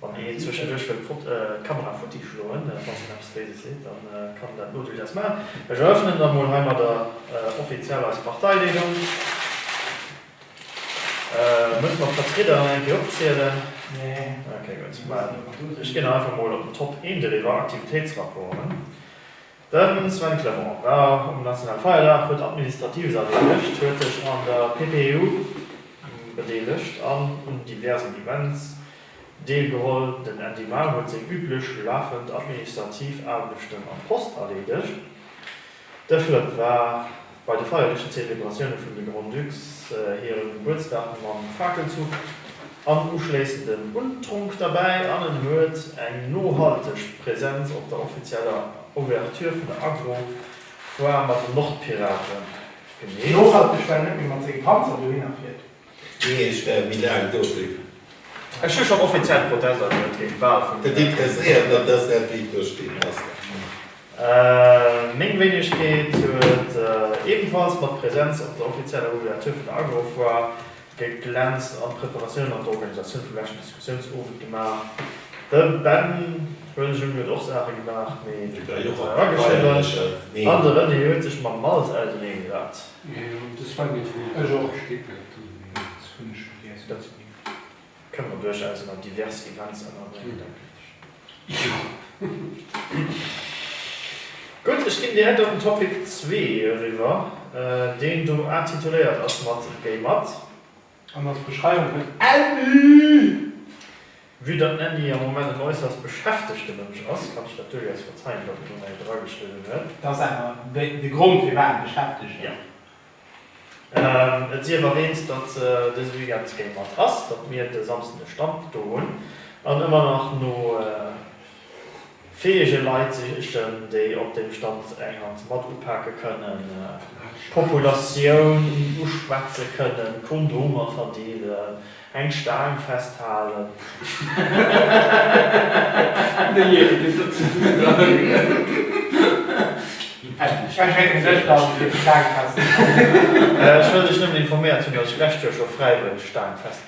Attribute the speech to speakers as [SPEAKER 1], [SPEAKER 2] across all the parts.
[SPEAKER 1] Wann een zwëschenduerch wëll d'Kamera futti schloen, falls een eppes Béises seet, da kann een dat elo duerchaus maachen. Ech erëffnen da mol heimadder offiziell eis Parteileedung. Musse mer d'Vertrieder nach eng Kéier opzielen? Nee. Ok, gutt. Ech ginn einfach mol op den Top 1 driwwer, Aktivitéitsrapporten. De Sven Clement war um Nationale Feierdag, huet Administratives erleedegt, huet sech an der PPEU bedeelegt an un diversen Events deelgeholl. Den Andy Maul huet seng üblech lafend administrativ Aarbechten an d'Post erleedegt. De Flëpp war Bei de feierlechen Zelebratioune vun de Grand-Ducs hire Gebuertsdag mam Fakelzuch an uschléissenden Untronk derbäi an en huet eng nohalteg Präsenz op der offizieller Ouverture vun der Agro-Foire mat den Nordpiraten gemeet. Nohalteg, well en net méi
[SPEAKER 2] mat senge Panzer dohinner fiert. Ginn Iech
[SPEAKER 3] Är Bilaang dofir. Ech hu schonn
[SPEAKER 1] offiziell Protest agemellt géint d'Wahl vum Här President. Datt
[SPEAKER 3] ass dat wéi et do steet. Ass dat.
[SPEAKER 1] Meng Wéinegkeet huet ebenfalls mat Präsenz op der offizieller Ouverture vun der Agrofoire geglänzt an d'Preparatioun an d'Organisatioun vum leschten Diskussiounsowend gemaach. De Ben Boelejung huet och Saache gemaach, mee de Claude Meisch war erageschriwwen an de René huet sech mam Malt ausernee gesat.
[SPEAKER 4] Gutt,
[SPEAKER 1] ech ginn direkt op den Topic zwee eriwwer, deen do intituléiert ass mat Gay Mat. an als
[SPEAKER 2] Beschreiwung vun Annie!
[SPEAKER 1] Vue datt d'Annie am Moment en äusserst beschäftegte Mënsch ass, kann ech dat duerchaus verzeien, datt en do nach ee drageschriwwen huet. Dat ass awer
[SPEAKER 2] de Grond, firwat e beschäftegt ass.
[SPEAKER 1] Jo. Et sief erwäänt, datt dëse Weekend Gay Mat ass, datt mir de Samsden e Stand do hunn an ëmmer nach no. fäege Leit ze sichen, déi op deem Stand eng Hand mat upake kënnen, d'Populatioun uschwätze kënnen, Kondomer verdeelen, eng Staang festhalen.
[SPEAKER 2] Ech
[SPEAKER 1] wëll dech nëmmen informéiert hunn, datt ech d'lescht Joer scho fräiwëlleg Staang festgehalen hunn.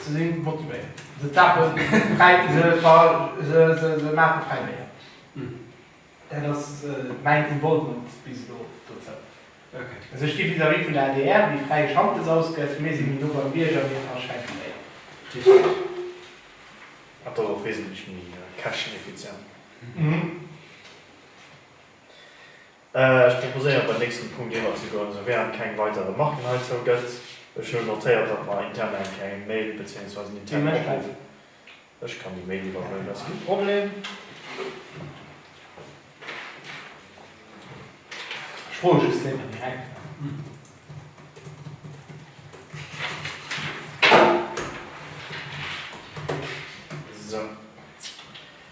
[SPEAKER 2] Se si motivéiert, se tapen fräi, se maache fräi Béier. Dat ass mäin Involvement bis elo dozou. Also ech gi vis-à-vis vun der adr, déi fräie Schantes ausgëtt, mir si méi no beim Bierger, mir verschenke Béier.
[SPEAKER 1] Richteg. An dann och wesentlech méi käschteneffizient. Ech proposéieren, beim nächsten Punkt iwwerzegoen, souwährend keng weider Remarken heizou gëtt. Ech hunn notéiert, datt mer intern eng kleng Mail beziéungsweise en internen Opruff, ech kann déi Mail iwwerhuelen, dat ass kee Problem. Ech
[SPEAKER 2] froe just net, ob mir eng.
[SPEAKER 1] Esou.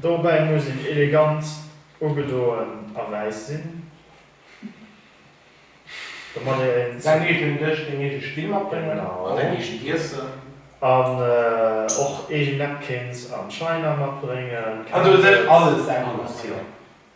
[SPEAKER 2] Dobäi muss
[SPEAKER 1] een elegant ugedoen a wäiss sinn, domat ee säin eegenen Dësch,
[SPEAKER 2] deng eege Spill matbréngen an däin eegent
[SPEAKER 1] Iessen,
[SPEAKER 5] an
[SPEAKER 1] och eegen Napkins an China matbréngen, an do sech alles
[SPEAKER 2] selwer matbréngen.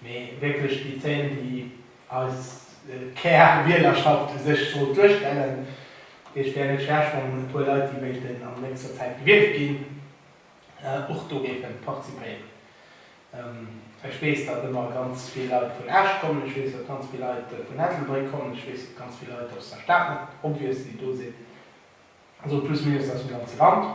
[SPEAKER 2] Mee wierklech déi Zéil, déi eis Kärwielerschafft u sech sollt duerstellen. Dee wär net schlecht, wann e puer Leit, déi wéilten an nächster Zäit gewielt ginn, och do géife participéieren. Ech weess, datt ëmmer ganz vill Leit vun Esch kommen. Ech weess, datt ganz vill Leit vun Ettelbréck kommen. Ech weess, datt ganz vill Leit aus der Stad, net obvious, déi do sinn. Also plus minus aus dem ganze Land.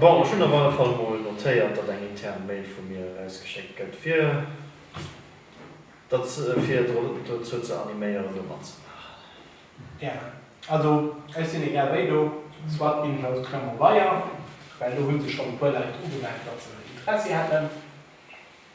[SPEAKER 1] Bon, ech hunn op alle Fall mol notéiert, datt eng intern Mail vu mir erausgeschéckt gëtt, fir dozou ze animéieren, do matzemaachen.
[SPEAKER 2] Gären. Also, ech sinn egal wéi do, soit bin ich aus Clermont-Weiher, well do hu sech schonn e puer Leit ugemellt, datt se Interessi hätten.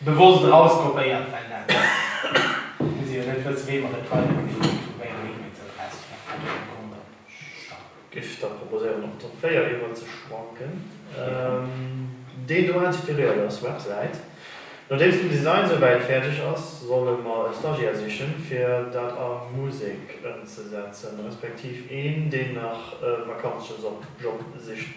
[SPEAKER 2] Bewosst eraus kopéiert, well dat hu se jo net wësse wéi mer et weider ginn, ech hu meng E-Mail zur Press, ech maache grad meng Kont op,
[SPEAKER 1] stopp. Giff da proposéieren op d'Top 4 eriwwer ze schwanken, déi do inspiréiert ass, Websäit. Nodeems den Design esou wäit fäerdeg ass, solle mer e Stagiär sichen fir dat a Musek ëmzesetzen, respektiv een deen nach e Vakanzjob sicht?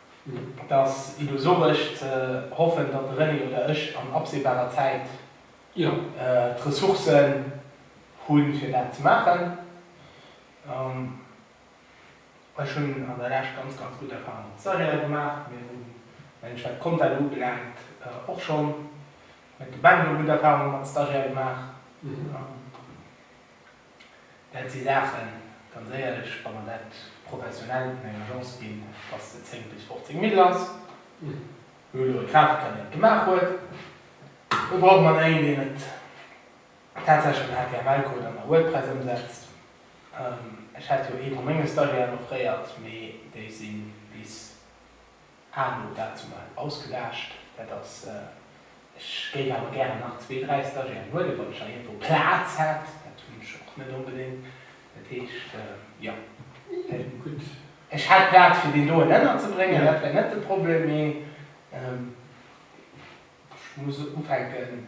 [SPEAKER 2] Et ass illusoresch ze hoffen, datt de René oder ech an absehbarer Zäit d'Ressourcen hu fir dat ze maachen. Ech hunn an der Lescht ganz, ganz gutt Erfahrunge mat Stagiairë gemaach. Mir hunn, mengen ech, wat d'Compta do ubelaangt, och schonn mat de Banken gutt Erfahrunge mat Stagiairë gemaach. Well si laachen, ganz éierlech, wa mer dat professionell un eng Agence ginn, dass se 10 bis 15 Mille ass, mir hu elo e Grafiker, deen et gemaach huet, elo brauche mer en, deen et tatsächlech am HTML-Code an der WordPress ëmsetzt. Ech hat jo ee vu menge Stagiairen offréiert, mee déi si bis Anu, dat ass mol ausgelaascht. Dat ass, ech géif awer gären nach zwee, dräi Stagiairen huelen, wann ech nach iergendwou Plaz hätt. Dat hunn ech och net onbedéngt. Dat heescht, jo,
[SPEAKER 4] ech hätt
[SPEAKER 2] Plaz fir deen doen ënnerzebréngen, dat wär net de Problem, mee ech muss ufänken,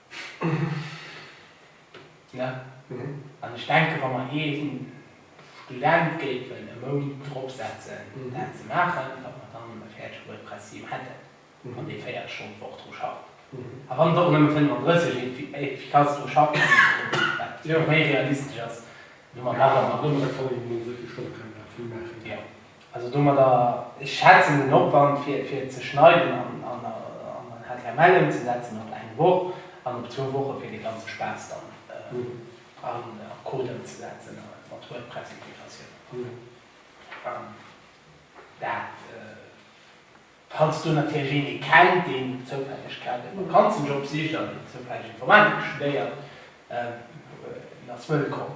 [SPEAKER 2] Ne? An ech denken, wa mer ee Student géifen e Mount drop setzen, dat ze maachen, datt mer dann e fäerdege WordPress-Theme hätten, wann dee 40 Stonnen d'Woch dru schafft. A wann et och nëmme 35 efficace dru schafft, wat méi realistesch ass, elo mam Aaron. Mat Nummere kann een nëmmen
[SPEAKER 4] esou vill Stonne kënnen, dat vill maachen. Also
[SPEAKER 2] domadder, ech schätzen den Opwand fir fir et ze schneiden an an an html ëmzesetzen op eng Woch an op zwou Woche fir de ganze Spaass dann an an Code ëmzesetzen a mat WordPress Integratioun an dat falls do natierlech een ee kennt deen zoufälleg grad e Vakanzenjob sicht an deen zoufälleg Informatik studéiert, en ass wëllkomm.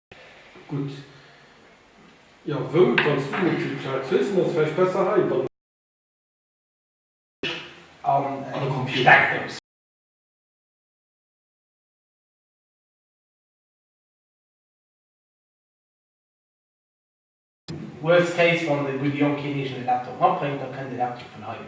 [SPEAKER 4] Gutt, jo, wou, wann s du net vill Plaz hues, dann ass et vläicht besser hei, wann. An
[SPEAKER 2] e Computer. Worst case, wann de gudde Jong keen eegene Laptop matbréngt, da kënnt e Laptop vun hei.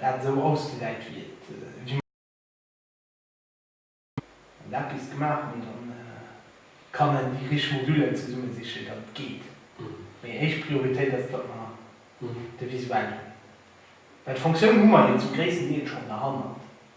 [SPEAKER 2] dat esou ausgesäit wéi et gemaach gëtt, an eppes gemaach hunn, dann kann en déi richteg Modullen zesumme sichen, datt et geet. Mee éischt Prioritéit ass, datt mer de Visuel hunn, well d'Fonctioun hu mer jo zum gréissten Deel schonn derhannert.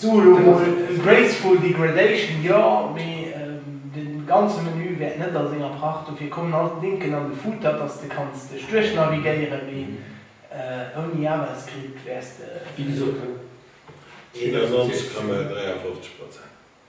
[SPEAKER 4] Soe elo mol
[SPEAKER 2] graceful degradation jo, mee de ganze Menü wäert net a senger Pracht. Dofir kommen all d'Linken an de Footer, dass de kanns dech duerchnavigéieren, mee ouni JavaScript wäers de. Wéi gesot, et ass net
[SPEAKER 4] fir
[SPEAKER 3] jiddereen.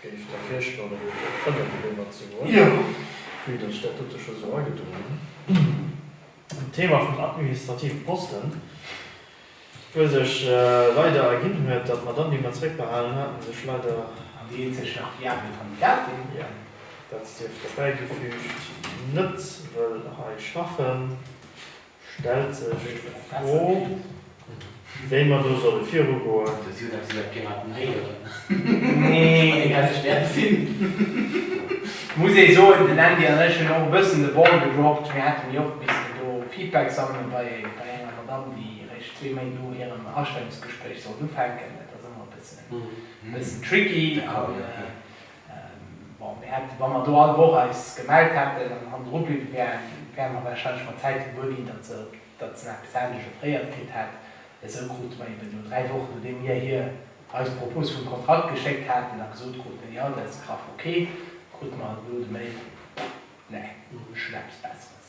[SPEAKER 1] Géif Der virschloen, ënner déi Beemer ze goen,
[SPEAKER 2] wéi Der sech dat
[SPEAKER 1] dote scho sou agedun hunn? D'Thema vum administrative Posten, wou sech leider erginn huet, datt d'Madame, déi mer zréckbehalen haten, sech leider. An déi eenzeg nach
[SPEAKER 2] viabel Kandidatin. Jo, dat
[SPEAKER 1] sief dobäigefüügt, net wëll hei schaffen. Stellt sech d'Fro, wéi mer do solle
[SPEAKER 5] virugoen. Muss ee
[SPEAKER 2] soen, den Andy an ech hunn och e bëssen de Ball gedroppt. Mir hate méi oft missten do Feedback sammelen bei enger Madamm, déi eréischt zwee Méint no hirem Astellungsgespréich sollt ufänken. Dat ass ëmmer e bëssen tricky. Bon, mir hätten, wa mer do all Woch eis gemellt hätten an an dru bliwwe wären, wäre mer warscheinlech mat Zäit gewuer ginn, datt se datt se nach bis Enn dejeufréiert kritt hätt. Esou krute mer eben elo, dräi Wochen nodeem mir hir eis d'Propos vum Kontrakt geschéckt haten a gesot kruten, jo, dat ass graff ok, krute mer elo de Mail, nee, mir hu schonn eppes Besseres.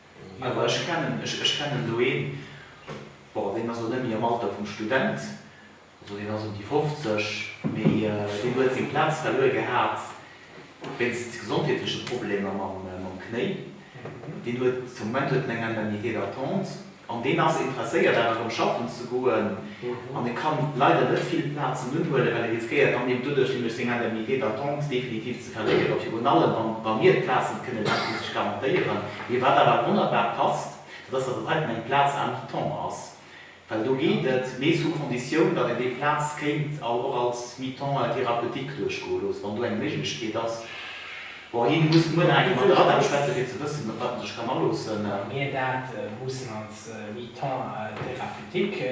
[SPEAKER 5] Awer ech kennen, ech kennen do een, bon, deen ass elo net méi am Alter vum Student, also deen ass ëm déi 50, mee deen huet seng Plaz verluer gehat wéinst gesondheetleche Problemer mam Knéi. Deen huet, de Moment huet en eng Indemnité d'attente an deen ass interesséiert awer erëm schaffen ze goen an e kann leider net vill Plazen unhuelen, well e riskéiert dann deem doduerch nämlech seng Indemnité d'attente definitiv ze verléieren, virun allem wa mir d'Plaz net kënne laangfristeg garantéieren. Mee wat awer wonnerbar passt, dat ass, datt et heiten eng Plaz à mi-temps ass, well do geet et, mee sous condition, datt een déi Plaz kéint och als mi-temps thérapeutique duerchgoe loosse, wann do eng Méiglechkeet ass. Bon, hie muss muer nach eng Kéier mat der Adam schwätzen, fir ze wëssen, op wat en sech kann aloossen. Wa mir dat
[SPEAKER 2] mussen als mi-temps thérapeutique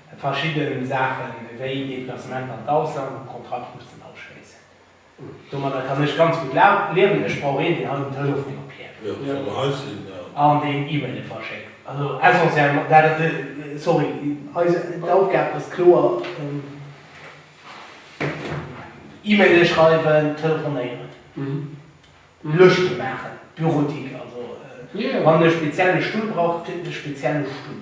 [SPEAKER 2] verschidde Saache wéi Deplacementer an d'Ausland, wou d'Kontrakt mussen ofschléissen. Domadder kann ech ganz gutt liewen. Ech brauch een, deen hei um Telefon opiert
[SPEAKER 3] an deen E-Maile
[SPEAKER 2] verschéckt. Also essentiellement, dat ass e, sorry, eis Aufgab ass kloer E-Maile schreiwen, telefonéieren, Lëschte maachen, Bureautique. Also wann e spezielle Stull brauch, kritt en e spezielle Stull.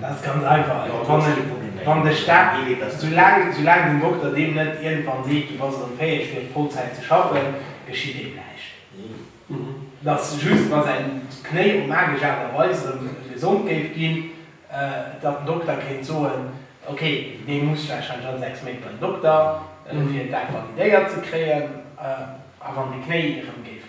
[SPEAKER 3] Dat ass ganz
[SPEAKER 2] einfach, wann de Staat dee Wee weist. Soulaang den Dokter deem net iergendwann seet, du bass erëm fäeg fir Vollzäit ze schaffen, geschitt deem näischt. Et ass just, wa säin Knéi op magesch Aart a Weis erëm gesond géif ginn, datt den Dokter kéint soen, ok, dee muss warscheinlech all 6 Méint bei den Dokter, fir dat validéiert ze kréien. A wann de Knéi erëm géif.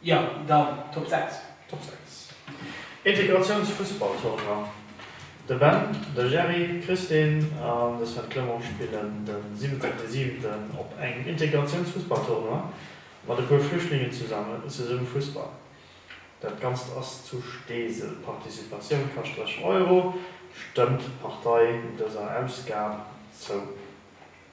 [SPEAKER 2] Jo, dann Top 6. Top 6.
[SPEAKER 1] Integratiounsfussballtournoi. De Ben, de Gerry, d'Christine an de Sven Clement spillen de 17.7. op engem Integratiounsfussballtournoi mat e puer Flüchtlingen zesumme Fussball. Dat Ganzt ass zu Steesel. Participatioun kascht 30 Euro. Stëmmt Partei dëser Ausgab zou.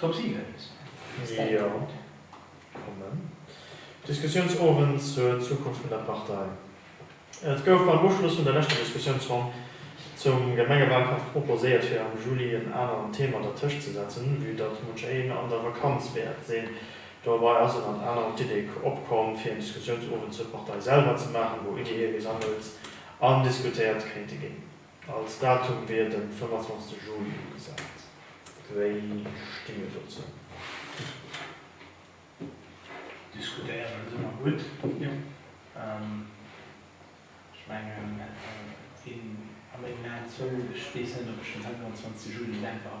[SPEAKER 2] Top 7 bis fir Säitepunkt. Jo,
[SPEAKER 1] kommen. Diskussiounsowend zur Zukunft vun der Partei. Et gouf beim Uschluss vun der leschter Diskussiounsronn zum Gemengewalkampf proposéiert fir am Juli en aneren Thema dertëscht ze setzen, vue datt munch een an der Vakanz wäert sinn. Dobei ass ënnert anerem d'Idee opkomm fir en Diskussiounsowend zur Partei selwer ze maachen, wou Ideeë gesammelt an diskutéiert kéinte ginn. Als Datum wier de 25 Juli ugesat. Wéi sti mir dozou?
[SPEAKER 2] Diskutéieren ass ëmmer gutt. Ech mengen, a mengen Aen zouleef, ech weess net, ob ech den 25 Juli selwer.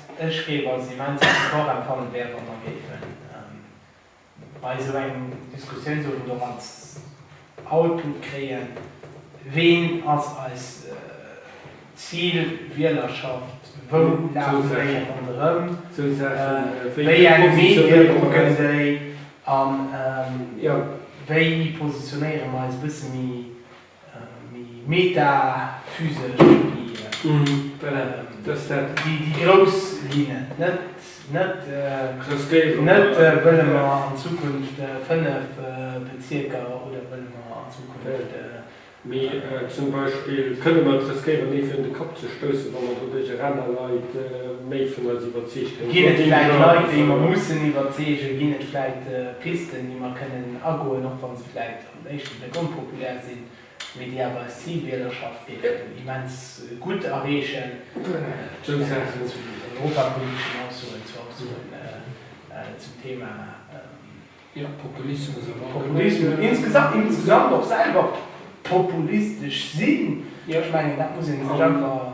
[SPEAKER 2] Ech géif als immense Support empfannen, wär et wann Der géifen bei esou engem Diskussiounsowend och als Output kréien, ween ass eis Zilwielerschaft, wou lafen déi ronderëm, wéi eng Medie kucken déi an wéi positionéiere mer eis e bësse méi Méi metaphysesch wéi dës dat. Déi grouss Linnen, net wëlle mer an Zukunft fënnef Bezierker oder wëlle mer an Zukunft. Mee zum Beispill
[SPEAKER 4] kënne mer et riskéieren, ee virun de Kapp ze stoussen, wa mer doduerch eraner Leit méi vun eis iwwerzeegt hunn. Ginn et vläicht Leit, déi
[SPEAKER 2] mer mussen iwwerzeegen? Ginn et vläicht Pisten, déi mer kënnen agoen, och wa se vläicht um éischte Bléck onpopulär sinn, mee déi awer eis Zilwielerschafft géifen immens gutt erreechen, zousätzlech zu den europapoliteschen Aussoen, zu Aussoen zum Thema
[SPEAKER 4] Populismus, insgesamt, insgesamt
[SPEAKER 2] och selwer populistesch sinn. Ech mengen, dat muss ee sech einfach.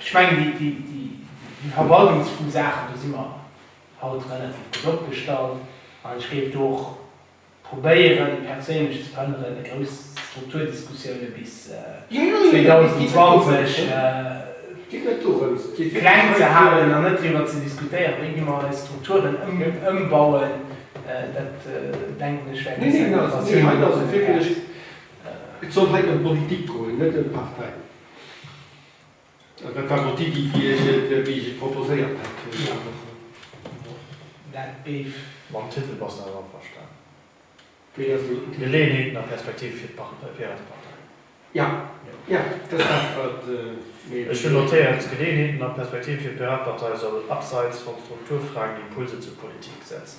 [SPEAKER 2] Ech mengen, déi verwaltungsfru Saachen, do si mer haut relativ gutt opgestallt. An ech géif do och probéieren, perséinlech ze verhënneren, déi grouss Strukturdiskussioune bis 2020 kleng ze halen an net driwwer ze diskutéieren, wéi gi mer eis Strukturen ëmbauen. Dat, denken ech, wäert eis eng
[SPEAKER 4] Motivatioun ginn. Dat war mol d'Iddi, wéi ech et proposéiert hat.
[SPEAKER 2] Mam Titel bass de
[SPEAKER 1] also averstanen?
[SPEAKER 4] Geleeënheeten a Perspektive
[SPEAKER 1] fir
[SPEAKER 4] d'Piratepartei. Ech
[SPEAKER 1] hunn notéiert, Geleeënheeten a Perspektive fir d'Piratepartei soll abseits vum Strukturfragen Impulse zur Politik setzen.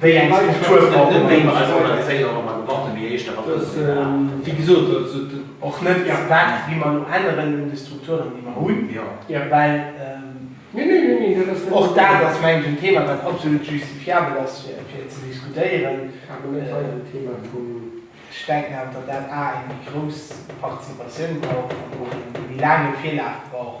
[SPEAKER 4] Wéi
[SPEAKER 2] eng Struktur brauche mer? Wéi mer eis
[SPEAKER 5] organiséieren, ob mer mer gewarnt hunn, wéi
[SPEAKER 4] héich der Abrëll sinn, etc. Och net
[SPEAKER 2] wat wéi mer elo änneren un de Strukturen, déi mer hunn,
[SPEAKER 4] well och dat ass, mengen ech, en
[SPEAKER 2] Thema, wat absolut justifiabel ass, fir ze diskutéieren. Ech denken
[SPEAKER 4] awer, datt
[SPEAKER 2] dat a eng méi grouss Participatioun brauch an och e méi laange Virlaf brauch.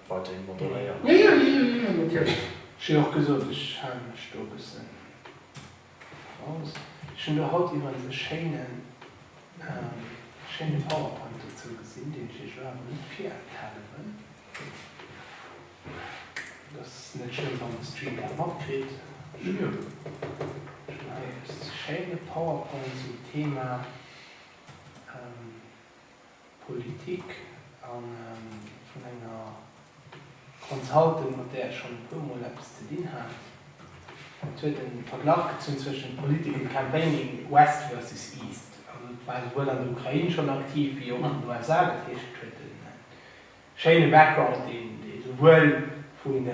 [SPEAKER 1] weiderhin moderéieren. Jo, jo, jo, jo, jo,
[SPEAKER 4] natierlech. Ech hunn och gesot,
[SPEAKER 2] ech hale mech do e bëssen eraus. Ech hunn do haut iwwerens e schéinen, e schéine Powerpoint dozou gesinn, deen ech Iech elo awer net virenthale wëll. Et ass net schlëmm, wann de Stream dat matkritt. Ech hunn do hei e schéine Powerpoint zum Thema. Politik a vun enger Consultant, mat där ech schonn e puer Mol eppes ze dinn hat. Et huet e Verglach gezunn zwëschen Political Campaigning West versus East. Also et war souwuel an der Ukrain schonn aktiv wéi och an den USA. Dat heescht, et huet e Schéine Background, dee souwuel vun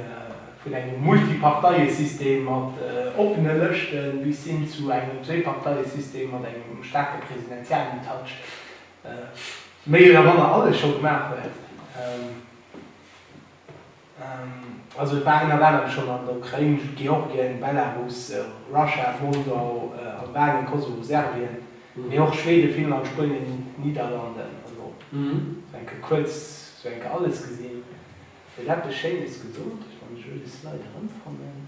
[SPEAKER 2] engem Multiparteiesystem mat oppene Lëschte bis hin zu engem Zwee-Parteiesystem mat engem staarke presidentiellen Touch méi oder manner alles scho gemaach huet. Also et war ënnert anerem schonn an der Ukrain, Georgien, Belarus, Russia, Moldau, Albanien, Kosovo, Serbien. Mee och Schweden, Finnland, Spuenien, Niederlanden, also sou enke kuerz, sou enke alles gesinn, huet eppes Schéines gesot. Ech wann ech elo de Slide erëmfannen.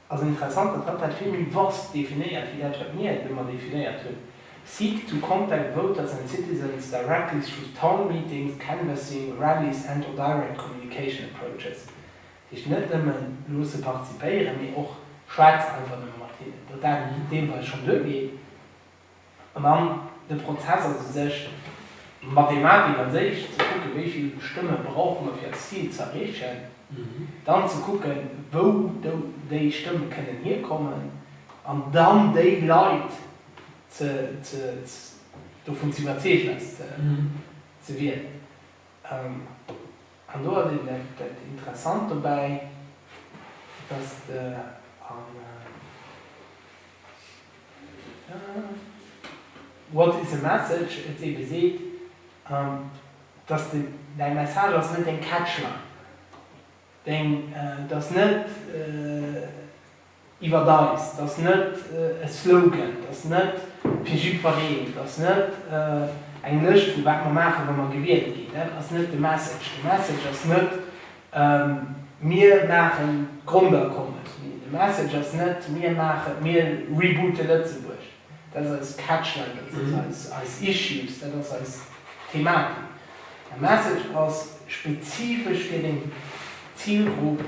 [SPEAKER 2] Ass interessant, datt hatt dat vill méi Wurst definéiert wéi dat, wat mir et ëmmer definéiert hunn, Seek to contact voters and citizens directly through town meetings, canvassing, rallies and or direct communication approaches. Dat heescht net nëmme loosse participéieren, mee och schwätze einfach nëmme mat hinnen. Datt dat deelweis schonn duergeet. An dann de Prozess ass u sech Mathematik an séich, ze kucken, wéi vill Stëmme brauche mer, fir eist Zil ze erreechen. Dann ze kucken, wou déi Stëmme kënnen hierkommen, an dann déi Leit dovun ze iwwerzeegen, eis ze wielen. An do ass eben dat Interessant dobäi, dass de an What is a message? et ebe seet, dass de däi Message ass net deng Catchline, deng, du ass net, iwwert eis, dat ass net e Slogan, dat ass net fir jiddwereen, dat ass net eng Lëscht vu wat mer maachen, wa mer gewielt ginn, dat ass net de Message. De Message ass net, mir maache Grondakommes, de Message ass net, mir reboote Lëtzebuerg. Dat ass eis Catchline, dat ass eis Issues, dat ass eis Thematik. Är Message ass spezifesch fir deng Zilgrupp,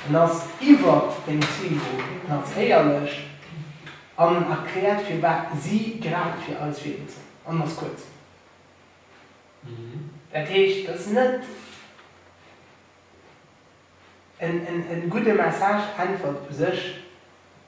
[SPEAKER 2] en ass iwwer deng Zilgrupp natiierlech an en erkläert firwat si grad fir eis wielen soll an ass kuerz. Dat heescht, dat ass net en gudde Message, Äntwert u sech.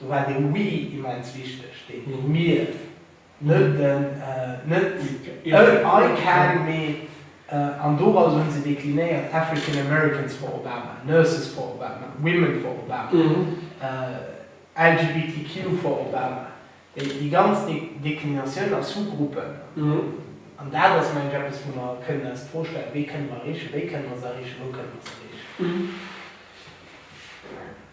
[SPEAKER 2] Do war den We immens wichteg, den Mir, net den I can, mee, an doraus hu se deklinéiert, African Americans for Obama, Nurses for Obama, Women for Obama, LGBTQ for Obama, déi ganz Deklinatioun a Sous-Gruppen. An dat ass, meng ech, eppes, wou mer kënnen eis d'Fro stellen, Wee kënne mer erreechen? Wéi kënne mer se erreechen? Wou kënne mer se erreechen?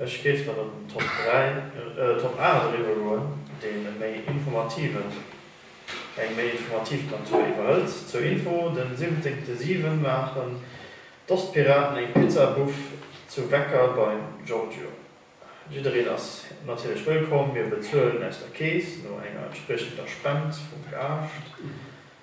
[SPEAKER 1] Ech géif dann op den Top 3, Top 8 eriwwer goen, deen e méi informativen, eng méi informativ Natur iwwerhëlt. Zur Info, den 17.7 maachen d'Ostpiraten eng Pizza Buff zu Wecker beim Giorgio. Jiddereen ass natierlech wëllkomm, mir bezuelen aus der Keess no enger entspriechender Spend vum Gaascht.